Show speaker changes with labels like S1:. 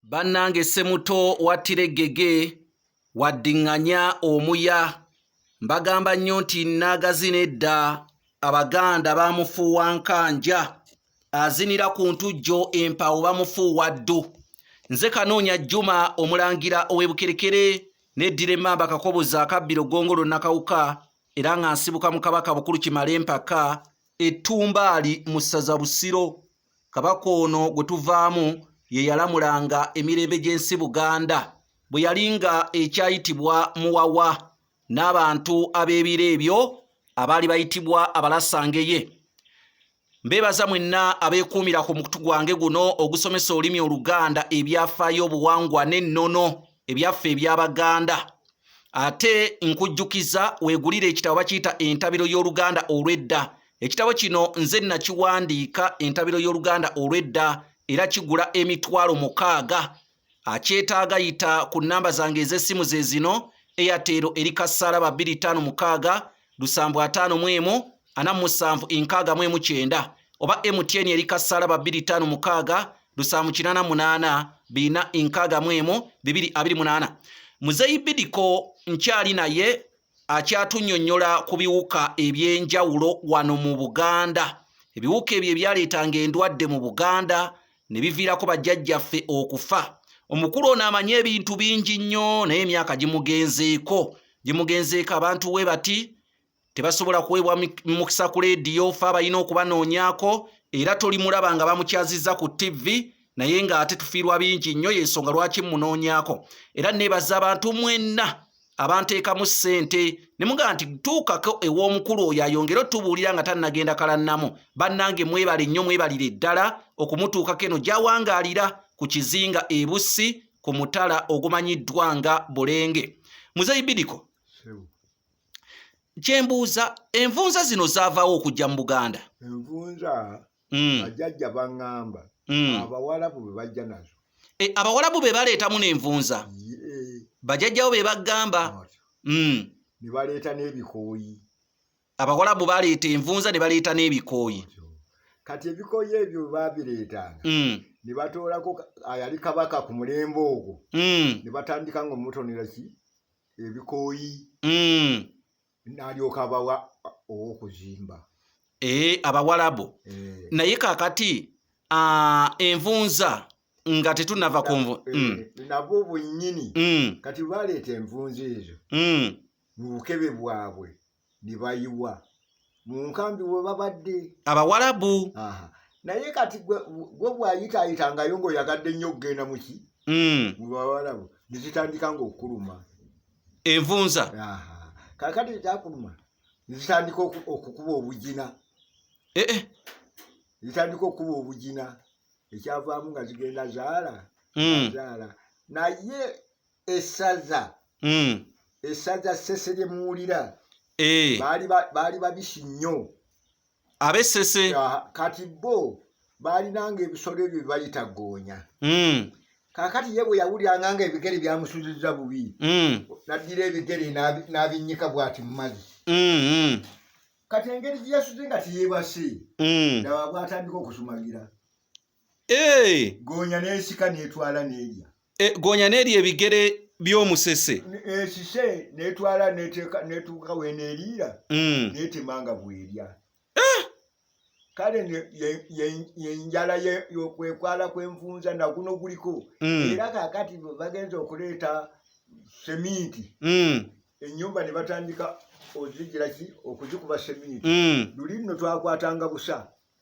S1: Bannange Ssemuto wattira eggege wadding'anya omuya. Mbagamba nnyo nti nnaagazina edda Abaganda baamufuuwa nkanja. Azinira ku ntujjo empawo bamufuuwa ddu. Nze Kanoonya Juma omulangira ow'e Bukerekere neddira emmamba Kakoboza akabbiro Ggongolo Nakawuka era nga nsibuka mu Kabaka Bukulu Kimala Empaka ettumbaali mu ssaza Busiro. kabaka ono gwe tuvaamu ye yalamulanga emirembe gy'ensi buganda bwe yali nga ekyayitibwa muwawa n'abantu ab'ebiro ebyo abaali bayitibwa abalasangeye mbeebaza mwenna abeekuumira ku mukutu gwange guno ogusomesa olulimi oluganda ebyafaayo obuwangwa n'ennono ebyaffe eby'abaganda ate nkujjukiza weegulire ekitabo bakiyita entabiro y'oluganda olw'edda Ekitabo kino nze nakiwandiika entabiro y'Oluganda olw'edda era kigula emitwalo mukaaga. Akyetaaga yita ku nnamba zange ez'essimu ze zino, Airtel eri kasaala ba bbiri ttaano mukaaga, lusambu ataano mu emu, ana mu musanvu enkaaga mu emu kyenda, oba MTN eri kasaala ba bbiri ttaano mukaaga, lusambu kinaana munaana, bina enkaaga mu emu, bibiri abiri munaana. Muzeeyi Bidiko nkyali naye. akyatunyonyola ku biwuka eby'enjawulo wano mu Buganda ebiwuka ebyo ebyaleetanga endwadde mu Buganda ne biviirako bajjajjaffe okufa omukulu ono amanyi ebintu bingi nnyo naye emyaka gimugenzeeko gimugenzeeko abantu we bati tebasobola kuweebwa mukisa ku leediyo fe abalina okubanoonyako era tolimulaba nga bamukyazizza ku ttivvi naye ng'ate tufiirwa bingi nnyo y'ensonga lwaki mmunoonyako era neebaza abantu mwenna abanteekamu ssente ne mugamba nti tuukako ew'omukulu oyo ayongere otubuulira nga tannagenda kalannamu bannange mwebale nnyo mwebalire ddala okumutuukako eno gyawangaalira ku kizinga ebussi ku mutala ogumanyiddwa nga bulenge muzeyi bidiko kyembuuza envunza zino zaavaawo okujja mu buganda envunza
S2: mm. bajajja mm. baŋŋamba mm. abawalabu be bajja nazo e, abawalabu be
S1: baleetamu n'envunza yeah. bajajjawo be bagamba mm.
S2: ne baleeta n'ebikooyi abawalabu
S1: baleeta envunza ne baleeta n'ebikooyi kati
S2: ebikooyi ebyo babireetanga mm. ne batoolako ayali kabaka ku mulembe ogwo mm. ne batandika nga omutonera ki ebikooyi mm. n'alyoka abawa ow'okuzimba eh,
S1: abawalabu eh. naye kakati ah, envunza nga tetunava ku nvu eh, mm. nabwo
S2: bwennyini mm. kati baleeta envunza ezo mm. mu bukebe bwabwe ne bayiwa mu nkambi we babadde abawalabu
S1: naye
S2: kati gwe bwayitaayita ngayo ng'oyagadde nnyo okugenda muki mu bawalabu ne zitandika ng'okuluma envunza kakati ekyakuluma zitandika okukuba obugina eh, eh. zitandika okukuba obugina ekyavaamu nga zigenda zaala hmm. zaala naye esaza hmm. esaza sese lyemuwulira eh. baali babisi nnyo abesese
S1: kati
S2: bo baalinanga ebisolo ebyo byebayita goonya hmm. kakati ye bwe yawuliranga nga ebigere byamusuziza bubi hmm. naddira ebigere n'abinnyika bwati mu mazzi hmm, kati engeri gye yasuze nga teyebase ndaba bwatandika okusumagira eh. goonya n'esika n'etwala n'erya eh, goonya n'erya
S1: ebigere by'omusese esise
S2: n'etwala n'etuuka weneeriira hmm. n'etema nga bwerya eh. kale yenjala yokwekwala kwenvunza naguno guliko hmm. era kakati bagenza okuleeta seminti hmm. enyumba nebatandika ozijiraki okuzikuba seminti luli nno twakwatanga busa